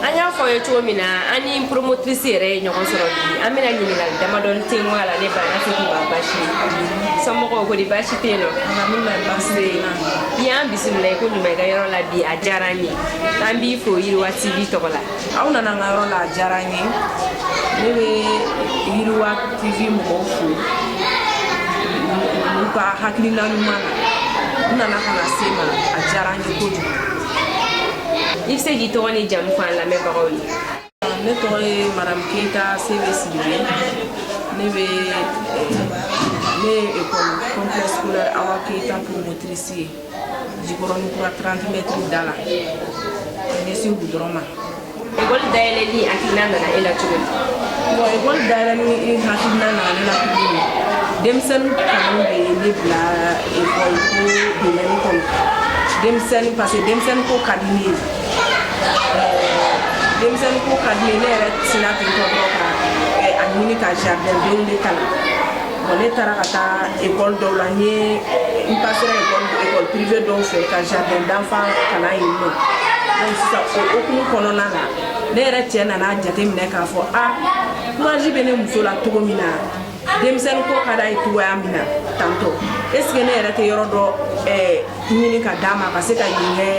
an y'a fɔ aw ye cogo min na an ni promotrice yɛrɛ ye ɲɔgɔn sɔrɔ bi an bɛna ɲininkali damadɔni ten k'a la ne ba n'a tigi ma basi somɔgɔw ko di basi tɛ yen nɔ i y'an bisimila i ko ɲuman i ka yɔrɔ la bi a diyara an ye an b'i fo yiriwa tv tɔgɔ la aw nana n ka yɔrɔ la a diyara an ye ne bɛ yiriwa tv mɔgɔw fo u ka hakilina ɲuman na u nana ka na se n ma a diyara an ye kojugu I bɛ se k'i tɔgɔ ni jamu fɔ an lamɛnbagaw ye. Ne tɔgɔ ye Madamu Keyita Sebe Sidibe. Ne bɛ ne ye ekɔli complexe scolaire Awa Keyita promotrice ye jikɔrɔni kura 30 mètres da la ka ɲɛsin goudron ma. École dayɛlɛli hakilina nana e la cogo di? Bon école dayɛlɛli hakilina nana ne la cogo min, denmisɛnnin kanu de ye ne bila école ko domaine kɔnɔ. Denmisɛnnin parce que denmisɛnnin ko ka di ne ye. Denmisɛnnin ko ka di ne ye, ne yɛrɛ sinna ten tɔ dɔrɔn ka a ɲini ka jardin denw de kalan. ne taara ka taa ekɔli dɔw la yen n pasera ekɔli ekɔli pirive dɔw fɛ ka jardin d'enfant kalan yen nɔ donc sisan o hokumu kɔnɔna na ne yɛrɛ cɛ nana a jateminɛ k'a fɔ a kurazi bɛ ne muso la cogo min na denmisɛnnin ko ka d'a ye cogoya min na tantɔ est ce que ne yɛrɛ tɛ yɔrɔ dɔ ɛɛ ɲini ka d'a ma ka se ka yen kɛ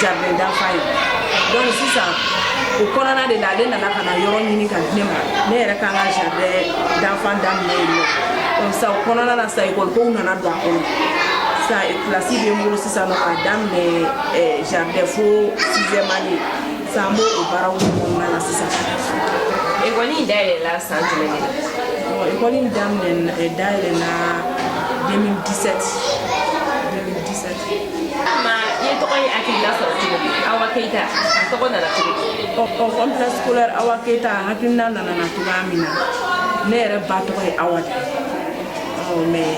jardin d'enfant ye donc sisan o kɔnɔna de la ale nana ka na yɔrɔ ɲini ka di ne ma ne yɛrɛ kan ka jardin d'enfant daminɛ yen nɔ donc sisan o kɔnɔna na sisan ekɔli kow nana don a kɔnɔ sisan kilasi bɛ n bolo sisan nɔ k'a daminɛ jardin fo sixième année San n b'o baaraw de kɔnɔna na sisan. Ekɔli in dayɛlɛla san jumɛn de la? Ekɔli in daminɛ eh, dayɛlɛla 2017. 2017. Awa Keita tɔgɔ nana cogo di? Ɔ ɔ complexe scolaire Awa Keita a hakilina nana na cogoya min na ne yɛrɛ ba tɔgɔ ye Awa de ye ɔ mais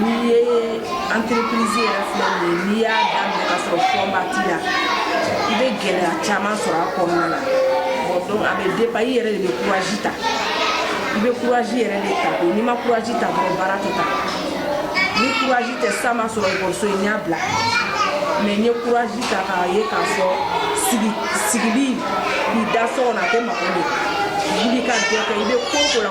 N'i ye entreprise yɛrɛ filɛ nin ye n'i y'a daminɛ ka sɔrɔ fonds ba t'i la i bɛ gɛlɛya caman sɔrɔ a kɔnɔna na bon donc a bɛ dépend i yɛrɛ de bɛ courage ta i bɛ courage yɛrɛ de ta n'i ma courage ta dɔrɔn baara tɛ taa ni courage tɛ sa ma sɔrɔ ekɔliso in n y'a bila mais n ye courage ta k'a ye k'a fɔ sigi sigili k'i da so kɔnɔ a tɛ mago ɲɛ wuli ka dɔ kɛ i bɛ ko o ko la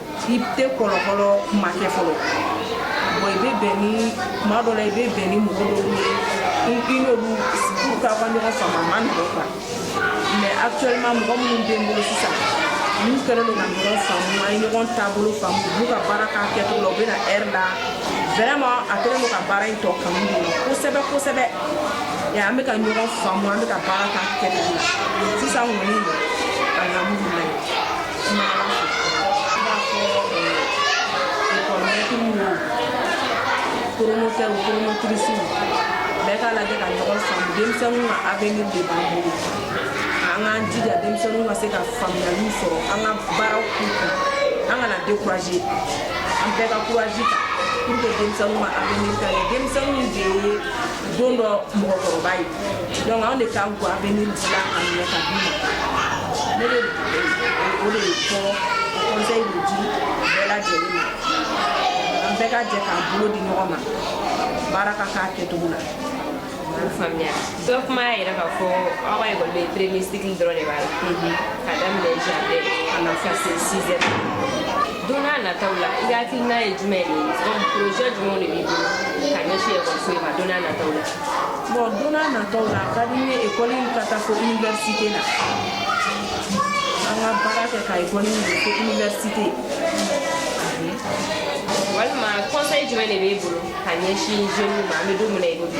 i tɛ kɔlɔkɔlɔ kuma kɛ fɔlɔ bon i bɛ bɛn ni kuma dɔ la i bɛ bɛn ni mɔgɔ dɔw ye i i n'olu pour ka ka ɲɔgɔn faamu a man nɔgɔn quoi mais actuellement mɔgɔ minnu bɛ n bolo sisan n'u kɛlen don ka ɲɔgɔn faamu an ye ɲɔgɔn taabolo faamu u b'u ka baara k'a kɛcogo la u bɛ na heure la vraiment a kɛlen don ka baara in tɔ kanu don n na kosɛbɛ kosɛbɛ et an bɛ ka ɲɔgɔn faamu an bɛ ka baara k'a kɛcogo la sisan kɔni alhamdulilayi Promoteurs promotrices bɛɛ k'a lajɛ ka ɲɔgɔn faamu denmisɛnninw ka avenir de b'an bolo an k'an jija denmisɛnninw ka se ka faamuyaliw sɔrɔ an ka baaraw k'u kun an kana décourager an bɛɛ ka courage ta pour que denmisɛnninw ka avenir ka ɲɛ denmisɛnninw de ye don dɔ mɔgɔkɔrɔba ye donc anw de kan k'o avenir dila k'a minɛ k'a d'u ma ne bɛ o de fɔ conseil de di bɛɛ lajɛlen ma an bɛɛ ka jɛ k'an bolo di ɲɔgɔn ma baara ka k'a kɛcogo la k'u faamuya dɔ kuma y'a yira k'a fɔ aw ka école bɛ premier cycle dɔrɔn de b'a la ka daminɛ jardin ka na fo se sixième don n'a nataw la i ka hakilina ye jumɛn de ye projet jumɛnw de b'i bolo ka ɲɛsin ekɔliso in ma don n'a nataw la Bon don n'a nataw la a ka di n ye école in ka taa fo université la an ka baara kɛ ka école in don fo université walima conseil jumɛn de b'e bolo ka ɲɛsin jeunes ma an bɛ don min na i ko bi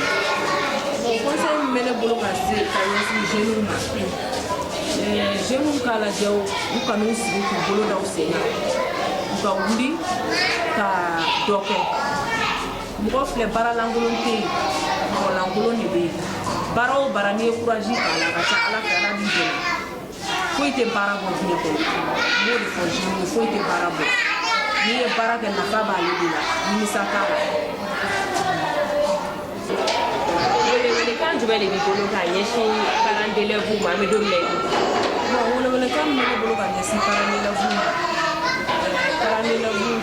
bon conseil min bɛ ne bolo ka se ka ɲɛsin jeunes ma eh, jeunes k'a lajɛ u u kan'u sigi k'u bolo da u sen kan u ka wuli ka dɔ kɛ mɔgɔ filɛ baara lankolon tɛ yen mɔgɔ lankolon de bɛ yen baara o baara n'i ye courage k'a la ka ca ala fɛ ala b'i dɛmɛ foyi tɛ baara bɔ diɲɛ kɔnɔ n b'o de fɔ jeunes ye foyi tɛ baara bɔ n'i ye baara kɛ nafa b'ale de la nimisa t'a la welewelekan jumɛn de b'i bolo ka ɲɛsin parents d'élèves ma an bɛ don min na i ko welewelekan min bɛ ne bolo ka ɲɛsin parents d'élèves ma parents d'élèves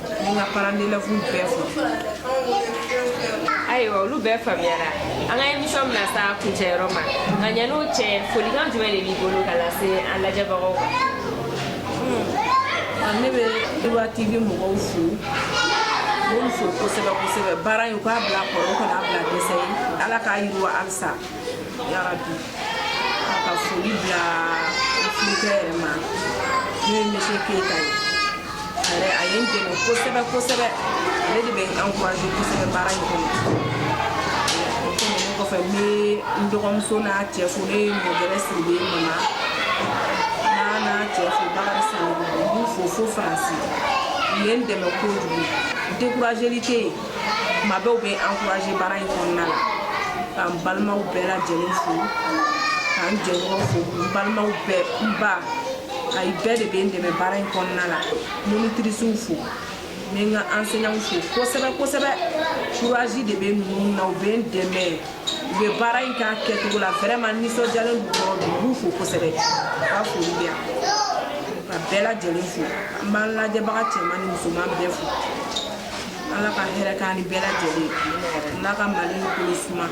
N ka parents d'élèves bɛɛ fo. Ayiwa olu bɛɛ faamuyara. An ka émission bɛna s'a kuncɛyɔrɔ ma. Nka yan'o cɛ, folikan jumɛn de b'i bolo ka lase an lajɛbagaw ma? Ne bɛ Ewa TV mɔgɔw fo, n b'u fo kosɛbɛ kosɛbɛ. Baara in u k'a bila a kɔrɔ, u kana a bila dɛsɛ ye. Ala k'a yiriwa halisa. ka foli bila furucɛ yɛrɛ ma n'o ye misi keyita ye a yɛrɛ a ye n dɛmɛ kosɛbɛ kosɛbɛ ale de bɛ n encourage kosɛbɛ baara in kɔnɔ o tɛmɛnen kɔfɛ n bɛ n dɔgɔmuso n'a cɛ fo n'o ye mɔgɛrɛ siribe mama n'a n'a cɛ fo bakari sanogo n b'u fo fo faransi u ye n dɛmɛ kojugu dekurajeli tɛ yen Tuma bɛɛ u bɛ n encourager baara in kɔnɔna la ka n balimaw bɛɛ lajɛlen fo ka n jɛɲɔgɔn fo n balimaw bɛɛ n ba ayi bɛɛ de bɛ n dɛmɛ baara in kɔnɔna la monitrisiw fo n bɛ n ka enseignants fo kosɛbɛ kosɛbɛ courage de bɛ ninnu na u bɛ n dɛmɛ u bɛ baara in k'a kɛcogo la vraiment nisɔndiyalen don yɔrɔ bɛɛ n b'u fo kosɛbɛ u ka foli bɛ yan ka bɛɛ lajɛlen fo an b'an lajɛbaga cɛman ni musoman bɛɛ fo ala ka hɛrɛ k'an ye bɛɛ lajɛlen ala ka mali kolo suma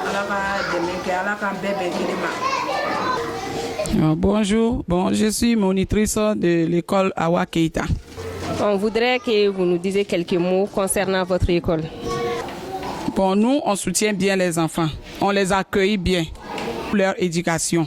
ala ka dɛmɛ kɛ ala k'an bɛɛ bɛn kelen ma ah, Bonjour, bon, je suis monitrice de l'école Awa Keita. On voudrait que vous nous disiez quelques mots concernant votre école. Bon, nous, on soutient bien les enfants. On les accueille bien pour leur éducation.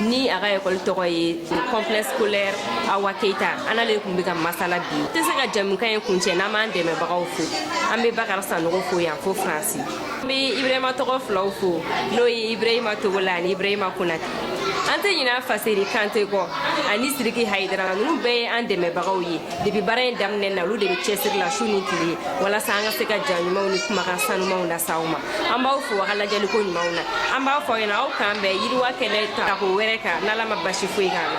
ni a ka ekɔli tɔgɔ ye complexe scolaire awa keita an n'ale tun bɛ ka masala bi tɛ se ka jɛmukan in kuncɛ n'an m'an dɛmɛbagaw fo an bɛ bakari sanogo fo yan fo faransi an bɛ ibrahima tɔgɔ filaw fo n'o ye ibrahima togola ani ibrahima konate an tɛ ɲinɛ faseri kante kɔ ani siriki hayidara ninnu bɛɛ ye an dɛmɛbagaw ye depi baara in daminɛ na olu de be cɛsiri la su ni tile walasa an ka se ka ja ɲumanw ni kumakan sanumanw lase aw ma an b'aw fo aw ka lajɛliko ɲumanw na an b'a fɔ ɲɛna aw k'an bɛn yiriwa kɛnɛ tako wɛrɛ kan n'ala ma basi foyi k'an na